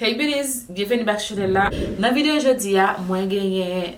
Hey beauties, byenveni back chanel la. Nan video jodi a mwen genyen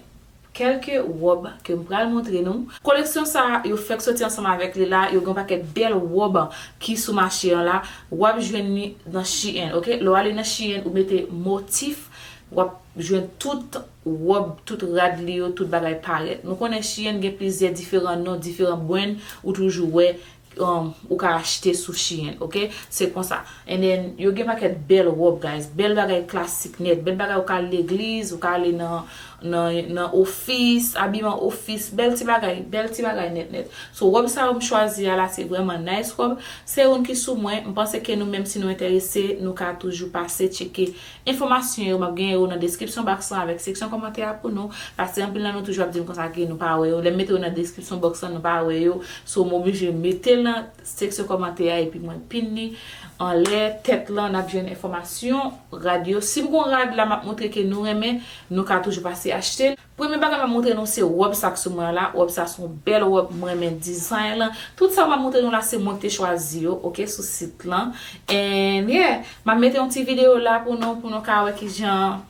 kelke rob ke m pral montre nou. Koleksyon sa yo fèk soti ansanm avèk li la, yo gen yon pakèt bèl rob ki sou mache an la, wap jwenn li nan shein ok, lè w ale nan shein ou mete motif wap jwenn tout rob, tout rad li yo, tout bagay parèt. Nou konnen shein gen plizyè diferan non, diferan brand ou toujou wè ou ka achte sou shein ok se konsa and then yo gen pakèt bèl rob guys bèl bagay klasik nèt bèl bagay ou ka al legliz ou ka ale nan ofis abiman ofis bèl ti bagay bèl ti bagay nèt nèt so rob sa yo m chwazi a la se vrèman nice rob se youn ki sou mwen m panse ke nou menm si nou enterese nou ka toujou pase tcheke Enfomasyon yo map gen yo nan deskripsyon box lan avek seksyon komantè a pou nou, pase anpil nan nou toujou ap dim konsa ke nou pa wè yo, lèm mete yo nan deskripsyon box lan nou pa wè yo, so moblije metel nan seksyon komantè a epi mwen pin li anlè tèt lan nap jwenn enfomasyon rad yo, sim gon rad la map montre ke nou renmen nou ka toujou pase achtel. Premye bagay map moutre nou se rob sak sou mwen la rob sa son bel rob m renmen dizay lan tout sa map moutre nou la se mwen ki te chwazi yo ok sou sit lan and yeah map mete yon ti video la pou nou pou nou ka wè kijan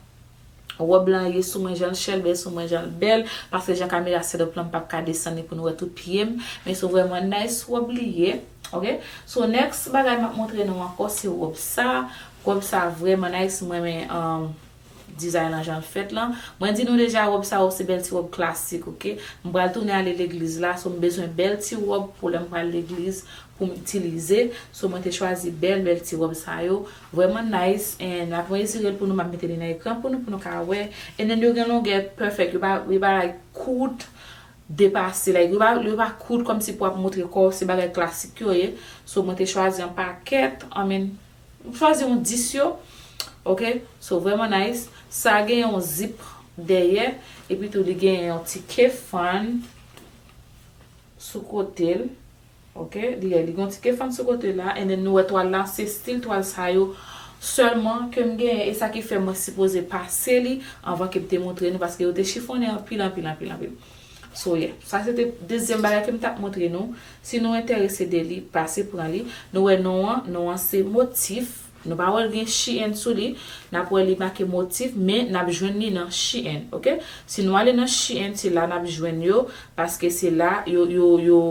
rob lan ye sou mwen janl chèlbè sou mwen janl bèl paske jan kamera set up lan m pap ka desann li pou nou wè tout pyem men son vrèman nice rob li ye ok so next bagay map moutre nou ankò se rob sa rob sa vrèman nice m renmen Dizay lan janl fèt lan. Mwen di nou deja rob sa yo se bèl ti rob klasik ok. M pral tounen ale legliz la so m bezwen bèl ti rob pou lèm pral legliz poum itilize so mwen te chwazi bèl bèl ti rob sa yo vrèman nice and map mezirel pou nou map mete li nan ekran pou nou pou nou ka wè and then yo gen longè perfect yo pa yo pa like kout depase like yo pa yo pa kout kòmsi pou wap moutre kòw se bagay klasik yo ye so mwen te chwazi yon pakèt I mean. M chwazi yon 10 yo ok so vreman nice sa gen yon zip dèyè epi tou li gen yon ti kefan sou kotel ok li gen yon ti kefan sou kotel la and then nou wè twal la se stil twal sa yo sèlman kem gen e sa ki fè mwen sipoze pase li anvan kem te montre nou paske yo te chifonnen anpil anpil anpil anpil. So yeah. Sa se te dezyèm bagay ke m tap montre nou. Si nou enterese de li, pase pran li. Nou wè non an, non an se motif. Nou pa wè l gen shein sou li. N ap wè li make motif, men n ap jwenn li nan shein. Ok. Si nou ale nan shein, se la n ap jwenn yo, paske se la yo, yo, yo,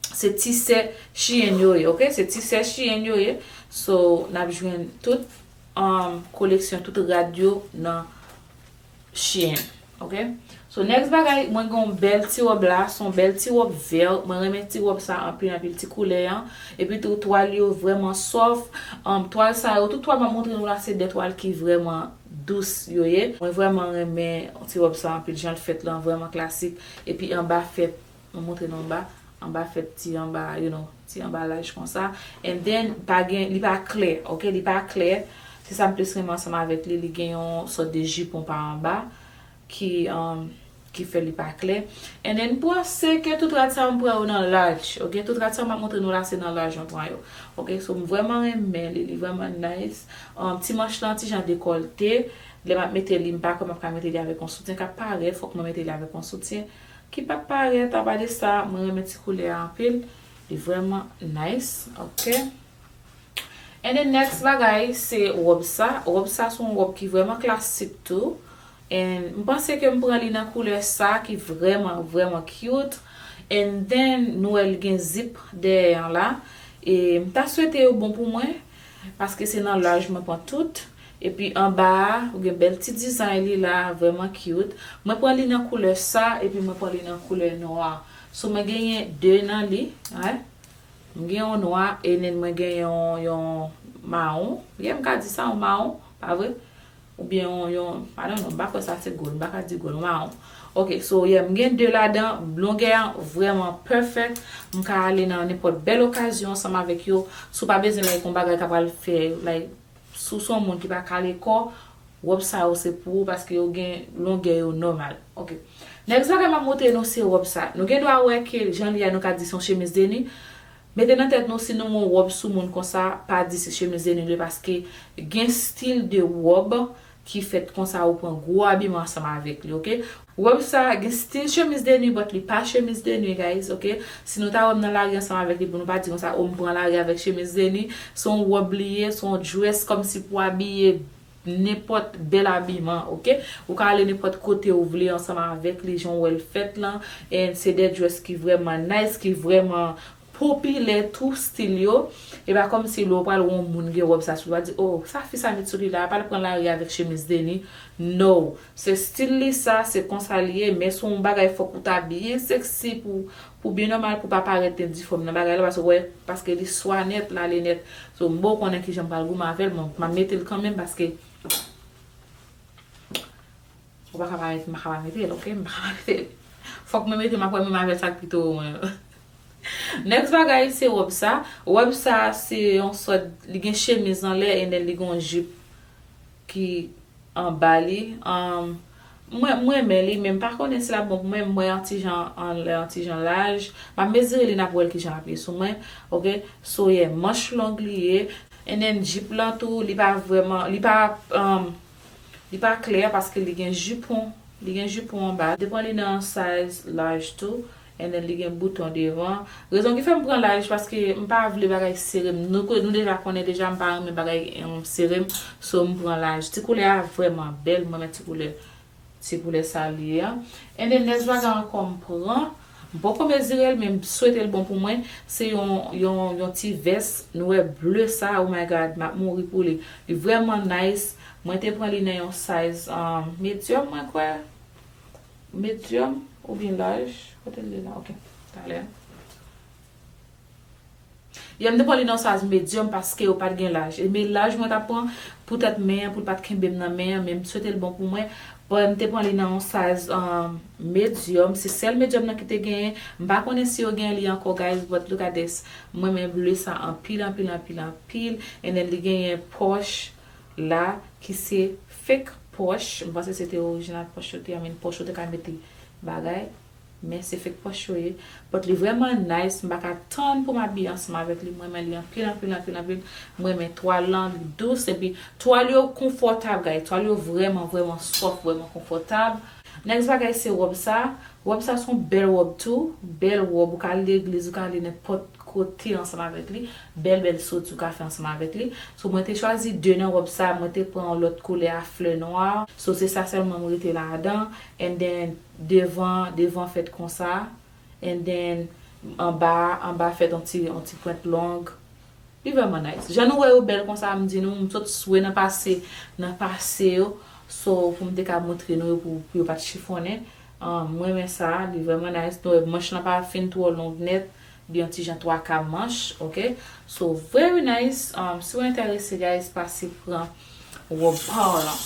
se tisè shein yo ye. Ok. Se tisè shein yo ye. So, n ap jwenn tout, um, koleksyon, tout rad yo nan. Chien ok so next bagay mwen gen yon bèl ti wòb la son yon bèl ti wòb vert mwen renmen ti wòb sa anpil anpil ti koulè an epi tou twal yo vrèman sof um, twal sa yo tout twal map montre nou la se de twal ki vrèman dous yo ye mwen vrèman renmen ti wòb sa anpil janl fèt lan vrèman klasik epi anba fè Nou montre nou anba, anba fèt ti anba you know, ti anba laj konsa. And then pa gen, li pa klè ok, li pa klè. Se sa m plis renmen ansanm avèk li, li gen yon sòt de jipon pa anba ki umm ki fè li pa klè. And then m panse ke tout rad sa yo m pran yo nan laj ok, tout rad sa yo m ap montre nou la se nan laj mwen pran yo ok. So m vrèman renmen li, li vrèman nice. Umm ti manch lan ti jan dekòlte, lè m ap mete li m pa kwè m ap ka mete li avèk yon soutyen k ap parèt, fòk mwen mete li avèk yon soutyen. Ki pat parèt apade sa mwen renmen ti koulè a anpil li vrèman nice ok and then next bagay se rob sa rob sa se yon rob ki vrèman klasik tou and m panse ke m pran li nan koulè sa ki vrèman vrèman cute and then nou wè li gen zip dèyè an la e m ta swete yo bon pou mwen paske se nan laj mwen pran tout Epi anba a ou gen bèl ti dizay li la vrèman cute. Mwen pran li nan koulè sa epi mwen pran li nan koulè nwa. So mwen genyen 2 nan li. Mwen gen yon nwa enen mwen gen yon mawon. Yeah m ka di sa yon mawon, pa vre? Ou byen yon, yon, I don't know, m pa kwè sa se gold, m pa ka di gold, yon mawon. Ok, so yeah m gen 2 ladan, longè an vrèman perfect. M ka ale nan nenpòt bèl okazyon ansanm avèk yo. Si w pa bezwen like yon bagay ka pral fè like. Si w se yon moun ki pa kale kò, wòb sa yo se pou ou paske yo gen longè yo nòmal. Ok. Next bagay m ap montre nou se wòb sa. Nou gen dwa wè ke jan li a nou ka di se yon chemiz de nwi. Mete nan tèt nou si nou wè yon wòb sou moun konsa, pa di se chemiz de nwi li ye paske gen stil de wòb ki fèt konsa ou pran gwo abiman ansanm avèk li ok. Robe sa gen stil chemise de nuit but li pa chemise de nuit guys ok si nou ta wèm nan lari ansanm avèk li pou nou pa di konsa oh m pran lari avèk chemise de nuit se yon robe li ye se yon dress kòmsi pou abiye nenpòt bèl abiman ok ou ka ale nenpòt kote ou vle ansanm avèk li jan w wèl fèt lan and se de dress ki vrèman nice ki vrèman popilè tou stil yo e pa kòmsi lè w pral wè yon moun gen wòb sa sou li wap di oh sa fi sa met sou li la apa l pran lari avèk chemiz deni no se stil li sa se konsa li ye men se yon bagay fòk ou ta byen seksi pou pou byen nòmal pou pa parèt gen difòm nan bagay la paske wè paske li swa nèt l ale nèt so m bo konnen kijan m pral goumen avè l bon map mete l kanmenm paske. Ou paka pa mete maka pa metel ok maka pa metel fok mwen metel map wè menm avè sak pito ou mwen next bagay se rob sa rob sa se yon sòt li gen chemiz anlè enen li gen yon jip ki anba li um mwen mwen men li men mpa konnen si lap bon pou mwen mwen yon ti jan anlè yon ti jan laj map mezire li nap wèl kijan lap ye sou mwen ok so yeah manch long li ye enen jip lan tou li pa vrèman li pa um. Li pa klè paske li gen jupon li gen jupon anba li pran li nan size large tou and then li gen bouton devan rezon ki fèm pran large paske m pa vle bagay serem nou nou deja konnen deja m pa renmen bagay serem so m pran large ti koulè a vrèman bèl m renmen ti koulè Se pou lè sa li ye a. Ene nez vaga ankò m pran M poko mezirel men m swetel bon pou mwen se yon yon yon ti vès nwè bleu sa oh my God map mouri pou li li vrèman nice mwen te pran li nan yon size um medium mwen kwè medium oubyen large kotel ye la ok talè. Yè m te pran li nan size medium paske yo pat gen laj e me laj mwen tap pran pou tèt men an pou l pat kenbe m nan men an men m swete l bon pou mwen but m te pran li nan yon size medium se sèl medium nan ki te genyen m pa konnen si yo genyen li ankò guys but look at this m renmen bleu sa anpil anpil anpil anpil and then li genyen pòch la ki se fake pòch m panse se te orijinal pòch yo te I mean pòch ou te ka mete bagay. Men se fek pòch yo ye. But li vrèman nice m paka tann poum abiye ansanm avèk li m renmen li anpil anpil anpil anpil m renmen twal lan li dous epi twal yo konfòtab guys twal yo vrèman vrèman soft vrèman konfòtab. Next bagay se robe sa, robe sa son bèl robe tou, bèl robe ou ka al legliz ou ka ale nenpòt kote ansanm avèk li, bèl bèl soti ou ka fè ansanm avèk li, so mwen te chwazi 2 nan robe sa mwen te pran yon lòt koulè a flè nwa, so se sa sèlman m rete ladan and then Devan devan fèt konsa and then anba anba fèt on ti on ti pwent long. Li vrèman nice. Jan nou wè yo bèl konsa m di nou m sot swe nan pase nan pase yo so pou m te ka montre nou yo pou yo pat chifonnen. Ahh m renmen sa li vrèman nice. Nou wè manch lan pa fin twò long nèt li on ti jan twaka manch ok. So very nice ahh si w entèrese guys pase pran wòb pa w lan.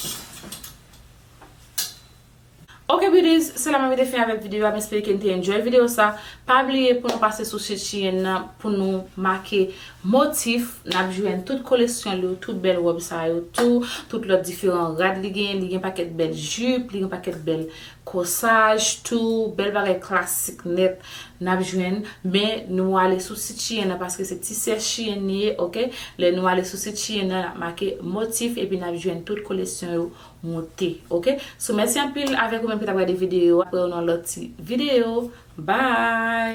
Ok beauties se la mwen mete fen avèk video a m espere ke nou te enjoy video sa pa bliye pou nou pase sou sit shein nan pou nou make motif nap jwenn tout kolesyonl yo tout bèl rob sa yo tou tout lòt diferan rad li genyen li gen pakèt bèl jup li gen pakèt bèl kosaj tou bèl bagay klasik nèt nap jwenn men nou ale sou sit shein nan paske se ti sè shein li ye ok lè nou ale sou sit shein nan nap make motif epi nap jwenn tout kolesyon yo. moute ok so mèsi anpil avèk ou menm ki tap gade videyo a wè ou nan lòt ti videyo bye.